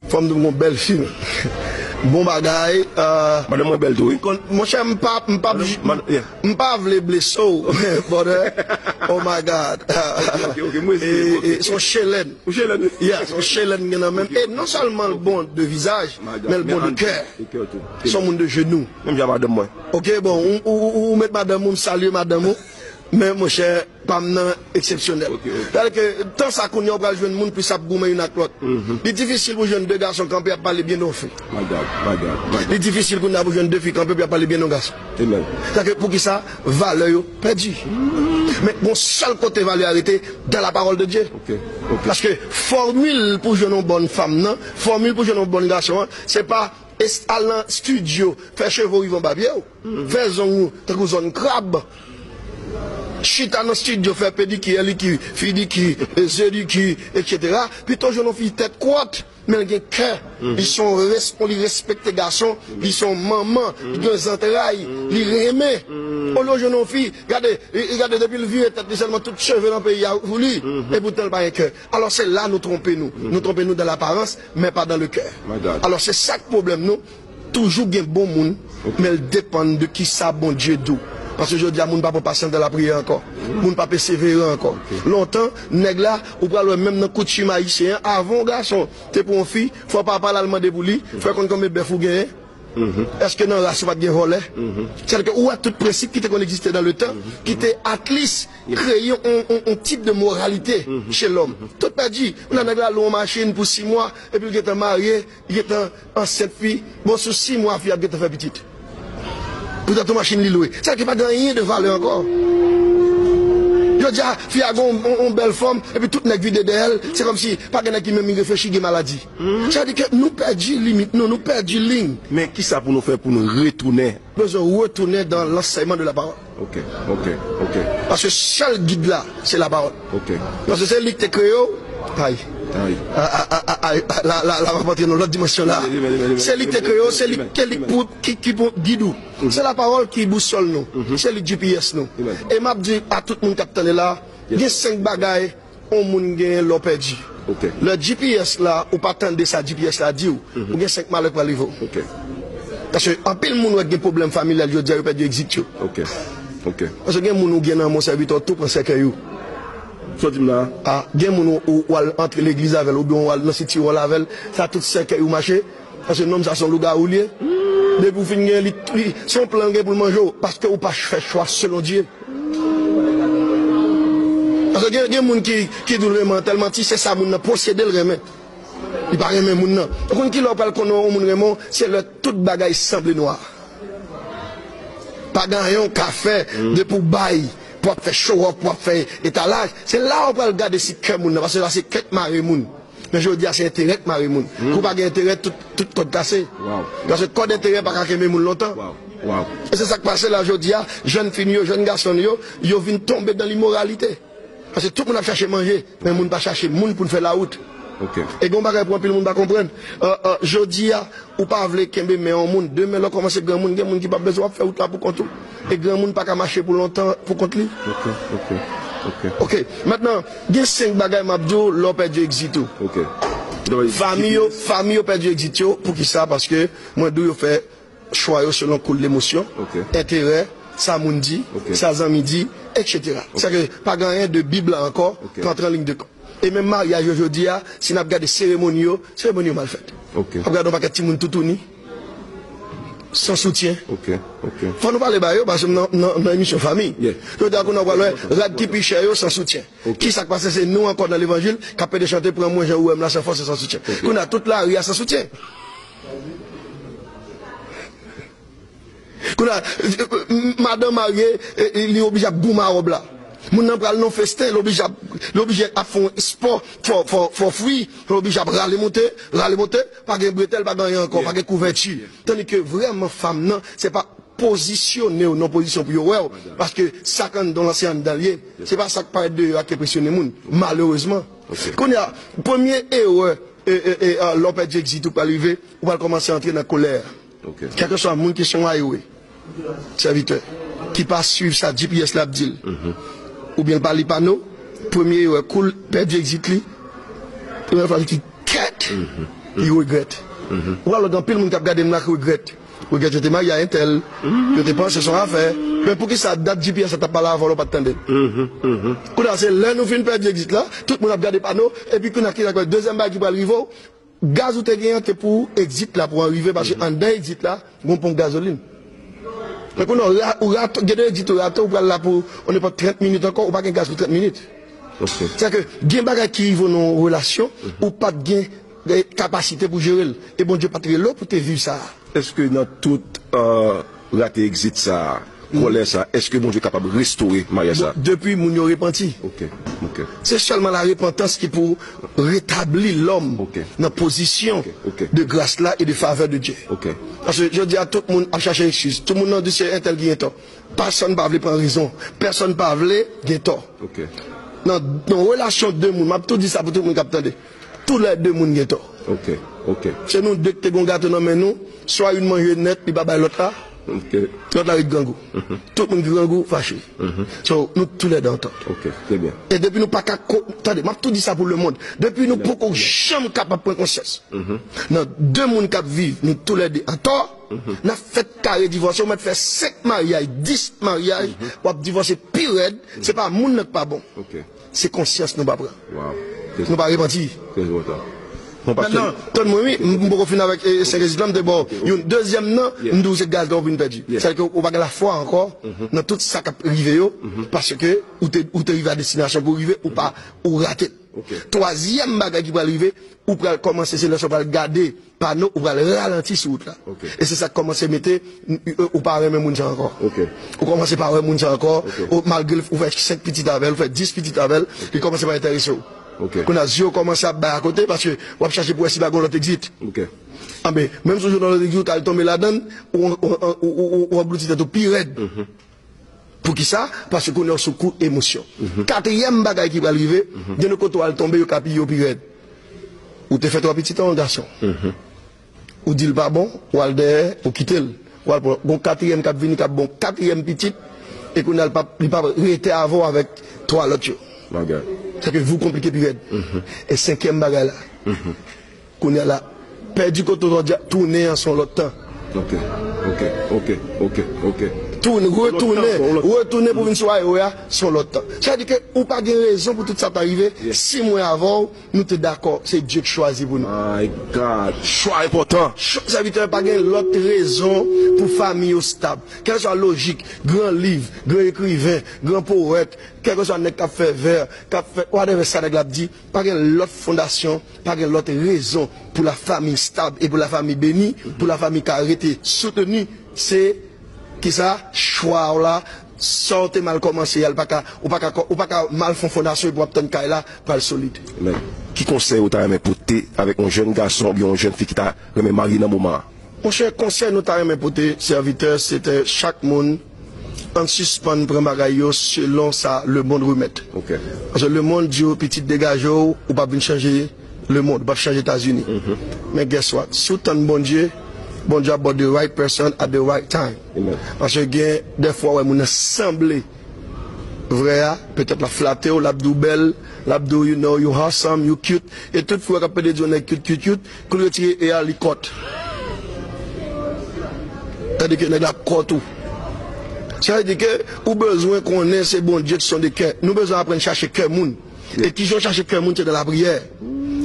Fanm dim gon bel fim. Bon bagay. Madanm mwen bel tou wi. Monchè m pa m pa vle blese w brother oh my God son chelèn yeah son chelèn m gen nan menm e non sèlman l bon de vizaj men l bon de kè son moun de jenou ok bon ou met madanm ou m salye madanm ou men monchè pa m nan eksepsyonèl. Tèl ke, tan sa kounye a ou pral jwenn moun plis ap goumen youn ak lòt. Li difisil pou jwenn de gason kanpe ap pale byen de yon fi. Li difisil kounye a pou jwenn de fi kanpe pou y ap pale byen de yon gason. Sa ke, poukisa? Valè yo pèdi. Men, gon sèl kote valè a rete, dan la pawòl de Dye. Paske, fòmil pou jwenn yon bòn fanm nan, fòmil pou jwenn yon bòn gason an, se pa, al nan stidyo, fè cheve w rive anba pye w. Vè zong ou tankou zòn krab. Chita nan studio fè pediki, eliki, fidiki, zediki, etc. Pito jwenn yon fi tèt kwat men l gen kè, li se yon respon, li respekte gason, li se yon manman, li gen zantray, li renmen. Olye w jwenn yon fi, gade, gade depi l vire tèt li sèlman tout cheve nan peyi a sou li, epoutan l pa gen kè. Alò se la nou twonpe nou. Nou twonpe nou dan laparans men pa dan le kè. Alò se sa k pwoblèm nou. Toujou gen bon moun men l depann de kisa Bondye di w paske jodi a moun pa pran pasyans nan lapriyè ankò moun pa peseveran ankò lontan nèg la ou pral wè menm nan koutim ayisyen an avan yon gason te pran yon fi fò papa l al mande pou li fè konn konbe bèf ou genyen èske nan ras ou pat gen vòlè sa vle di ke ou wè tout prensip ki te konn egziste dan letan ki te atlis kreye yon tip de moralite che lòm tout pèdi kounye a nèg la lwe yon machin pou 6 mwa epi l gentan marye. Li gentan ansent ui bon sou 6 mwa fi ap gentan fè pitit poutan ton machin li lwe sa vle di pa gen anyen de valè ankò jodia fi a gen yon bèl fòm epi tout nèg vide dèyèl se kòmsi pa gen nèg ki menm reflechi gen maladi sa vle di ke nou pèdi limit nou nou pèdi liy. Men kisa pou nou fè pou nou retounen. Bezwen retounen dan lansèyman de la pawòl. Ok ok ok. Paske sèl gid la se la parole. Ok. Paske se li ki te kreye w. Ayy. Ayy. Ayy la la la map antre nan lòt dimansyon la. Se li ki te kreye w, se li ke li pou ki pou gid ou. Se la parole ki boussole nou. Se li gps nou. E map di a tout moun kap tande la, gen 5 bagay. on moun genyen lè w pèdi. Lè GPS la, ou pa tande sa GPS la di w, ou gen 5 malè k pral rive w. Paske anpil moun wè k gen pwoblèm familyal jodi a, yo pèdi egzit yo. Paske gen moun ou gen nan Monsèvitè, ou tou pran sèkèy ou. Sa w di m la a? Gen moun ou al antre legliz avè l oubyen ou al nan siti wòl avè l, sa tout sèkèy ou mache, Paske nonm sa son lougarou liye depi ou fin gen li son plan gen poul manje w paske ou pa fè chwa selon Dye paske gen moun ki ki di w renmen an tèlman ti se sa moun nan posede l renmen li pa renmen moun nan ou konn kilè ou pral konnen yon moun renmen w se lè tout bagay sanble nwa pa gen anyen w ka fè depi w bay pou wap fè chowòf pou wap fè etalaj se la ou pral gade si kè moun nan paske la se kè k mare moun. Men jodi a se enterè k mare moun. Kou w pa gen enterè, tout kòd kase. Paske kòd enterè pa ka kenbe moun lontan. E se sa k pase la jodi a, jèn fi nou yo, jèn gason nou yo, yo vin tonbe dan limoralite. Paske tout moun ap chache manje, men moun pa chache moun pou l fè lawout. E gen yon bagay pou anpil moun pa konprann, jodi a ou pa vle kenbe men yon moun, demen lè w kòmanse granmoun, gen moun ki p ap bezwen w, w ap fè wout la poukont ou. E granmoun paka mache pou lontan pou kont li. Ok maintenant gen 5 bagay map diw lè w pèdi exit ou Fanmi yo fanmi yo pèdi exit yo poukisa paske mwen diw yo fè chwa yo selon koul lemosyon enterè sa moun di sa zanmi di etc sa vle di pa gen anyen de bib la ankò k antre an liy de kont e menm maryaj yo jodi a si nap gade seremoni yo seremoni yo mal fèt wap gade yon pakèt timoun toutouni. San soutyen. Fò nou pale ba yo paske m nan emisyon fanmi. Yo di a kounye a w pral wè rad ki pi chè yo san soutyen. Ki sa k pase se nou ankò nan levanjil k ap pede chante pran mwen jan ou wè m la san fòs e san soutyen. Kounye a tout lari a san soutyen. Kounye a, madan marye, li oblije ap goumen wòb la. Moun nan pral nan yon festen, li oblije ap fè espò, fò fwi, li oblije ap rale moute, rale monte, pa gen bretèl, pa gen anyen ankò, pa gen kouvèti. Tandi ke vrèman fanm nan, se pa pozisyone w nan yon pozisyon pou yo wè w, paske sa k anndan w lan se anndan l ye, se pa sa k parèt deyò a ki enpresyone moun, malerezman. Kounye a, premye erè lè w pèdi egzitan ou pral rive, ou pral kòmanse antre nan kolè. Kèlkeswa moun ki son ayowe, sèvitè, ki pa swiv sa gps la ap di l, oubyen l pa li pano, premye erè kou l pèdi exit li, premye fwa li di kèt, li regrèt. Ou pral wè gen anpil moun k ap gade m la k regrèt. Regrèt yo te marye a entèl, yo te panse se yon afè, men poukisa dat gps la t ap pale avan lè w pa t tande l? Kounye a se lè nou fin pèdi exit la, tout moun ap gade pano, epi kounye a ki sa k pral, dezyèm bagay ki pral rive w, Gaz ou te gen an te pou exit la pou an rive paske anndan exit la gon ponp gazolin. Men kounye a ou rate gen de exit ou rate ou pral la pou on ne pot 30 minit ankò ou pa gen gaz pou 30 minit. Sètadi ke gen bagay ki rive w nan yon relasyon ou pat gen kapasite pou jere l e Bondye pat rele w pou te viv sa a. Eske nan tout rate exit sa a Kòlè sa a, èske Bondye kapab restore maryaj sa a? Depi moun yo repanti. Ok. Ok. Se sèlman larepantans ki pou retabli lòm Ok. nan pozisyon Ok. Ok. de gras la e de favè de Dye. Ok. Paske jodi a tout moun ap chache ekskiz. Tout moun nan di se entèl ki gen tò. Pèsòn pa vle pran rezon. Pèsòn pa vle gen tò. Ok. Nan yon relasyon de moun, m ap tou di sa pou tout moun k ap tande. Tou lè 2 moun gen tò. Se nou 2 ki te gen yon gato nan men nou, swa youn manje nèt li pa bay lòt la, lòt la ret grangou. Tout moun ki grangou fache. So, nou tou lè 2 an tò. E depi nou pa ka, tande, m ap tou di sa pou lemond, depi nou poko janm kapab pran konsyans nan 2 moun k ap viv nou tou lè 2 an tò, n ap fè kare divòse, ou mèt fè 5 maryaj, 10 maryaj, w ap divòse pi rèd, se pa moun nan k pa bon. Se konsyans nou pa pran. Nou pa repanti. Mètnan, tann mwen wi, m poko fini avèk 5 ezik lan, m te ba w yon dezyèm nan, m di w se gaz la ou vin pèdi. Sa vle di ke ou pa gen lafwa ankò nan tout sa k ap rive yo, paske ou te rive a destinasyon pou w rive, ou pa, ou rate l. Twazyèm bagay ki pral rive, ou pral kòmanse se lè sa ou pral gade Pano ou pral ralanti sou wout la. E se sa k kòmanse mete ou pa renmen moun sa ankò. Ou kòmanse pa wè moun sa ankò. Malgre ou fè 5 pitit avè l, ou fè 10 pitit avè l, li kòmanse pa enterese w. Kounye a zye w kòmanse ap bay akote paske w ap chache pou wè si pa gen yon lòt egzit. Anben, menm si w jwenn yon lòt egzit ou t al tonbe ladan l, ou anglouti tèt ou pi rèd. Poukisa? Paske kounye a ou sou kou emosyon. Katriyèm bagay ki pral rive, gen de kote ou al tonbe yo ka piye ou pi rèd. Ou te fè twa pitit an yon gason. Ou di l pa bon, ou al dèyè, ou kite l. Ou al pran yon katriyèm k ap vini k ap ba w katriyèm pitit e kounye a l pap li pap rete avè w avèk twa lòt yo. Sèke vi w konplike pi rèd. E senkyèm bagay la. Kounya la pèdi koto jodi a tounen an son lòt tan. Ok ok ok ok ok. Tounen, retounen, retounen pou vin sou ayowe a son lòt tan. Sa di ke ou pa gen rezon pou tout sa ta rive si mwen avè w nou te dakò se Dye k chwazi pou nou. My God! Chwa enpòtan. Chak sèvitè pa gen lòt rezon pou fanmi yo stab. Kèlkeswa lojik, gran liv, gran ekriven, gran powèt, kèlkeswa nèg k ap fè vè, k ap fè whatever sa nèg la ap di, Pa gen lòt fondasyon, pa gen lòt rezon pou lafami stab e pou lafami beni, pou lafami ka rete souteni, se ki sa? Chwa w la, sa w te mal kòmanse a, ou pa ka mal fon fondasyon epi w ap tann kay la pral solid. Amen. Ki konsèy ou ta renmen pote avèk yon jèn gason oubyen yon jèn fi ki ta renmen marye nan moman an? Monchè, konsèy nou ta renmen pote sèvitè, se te chak moun. Ann sispann pran bagay yo selon sa lemond remèt. Paske lemond di w pitit degaje w, ou pap vin chanje lemond, ou pap chanje Etazini. Men guess what, si w tann Bondye, Bondye ap ba w the right person at the right time. Paske gen dèfwa ou wè moun nan sanble vrè a, petèt lap flate w, lap di w bèl, lap di w you know you awesome, you cute. E tout fi w wè kap pede di w nèg cute cute cute, Kou l retire e a li kòt. Sa vle di ke nèg la kòt ou. Sa vle di ke ou bezwen konnen se Bondye ki sonde kè. Nou bezwen aprann chache kè moun. E kijan w chache kè moun se nan lapriyè.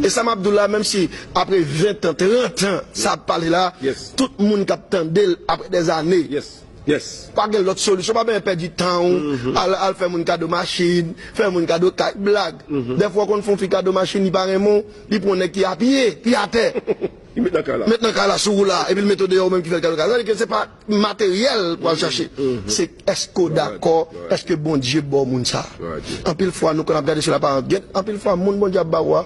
E sa m ap di w la menm si apre ventan, trantan sa ap pale la, tout moun k ap tande l apre dèzane. Yes. Pa gen lòt solisyon, pa bezwen pèdi tan ou al fè moun kado machin, fè moun kado kay, blag. Dèfwa ou konn fè yon fi kado machin li pa renmen w, li pran yon nèg ki apiye, ki atè, Li met nan kay la. met nan kay la sou ou la, epi l mete w deyò ou menm ki fè l kado kay la. Sa vle di ke se pa materyèl pou al chache, se èske w dakò, èske Bondye ba w moun sa a. Anpil fwa nou konn ap gade sou laparans, gen anpil fwa moun Bondye ap ba ou a,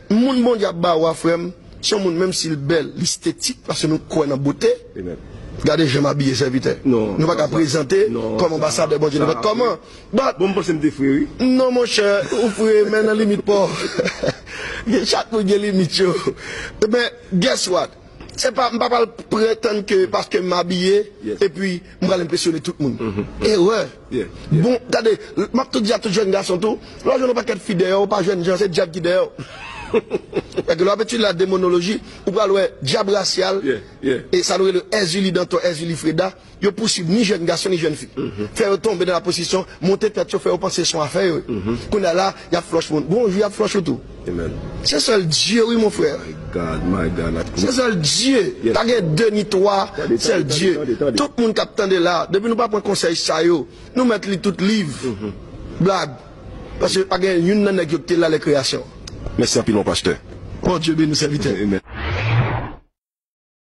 Moun Bondye ap ba ou a frè m se yon moun menm si l bèl li stetik paske nou kwè nan bote gade jan m abiye sèvitè nou pa ka prezante kòm anbasadè Bondye nou pa kòman but non monchè ou fre men nan limit pa w chak moun gen limit yo men guess what se pa m pa pral pretann ke paske m abiye epi M pral enpresyone tout moun. Erè! Bon, gade, m ap tou di a tout jèn gason tou, lè w jwenn yon pakèt fi dèyè w, ou pa jèn jan, se dyab ki dèyè w. Paske lè w ap etidye la demonoloji, ou pral wè dyab rasyal, e sa nou rele Èzili Dantò, Èzili Freda, yo pousuiv ni jèn gason ni jèn fi. Fè yo tonbe nan laprostisyon, monte tèt yo, fè yo panse se yon afè yo ye. Kounye a la, Yap flush moun bonjou yap flush ou tou amen se sèl Dieu wi mon frère my God my God la se sèl Dieu pa gen 2 ni 3 sèl Dieu tout moun kap tande la depi nou pa pran konsèy sa yo nou mèt li tout liv blag paske pa gen youn nan nèg yo ki te la lè kreyasyon mèsi anpil mon pasteur Bondye beni w sèvitè.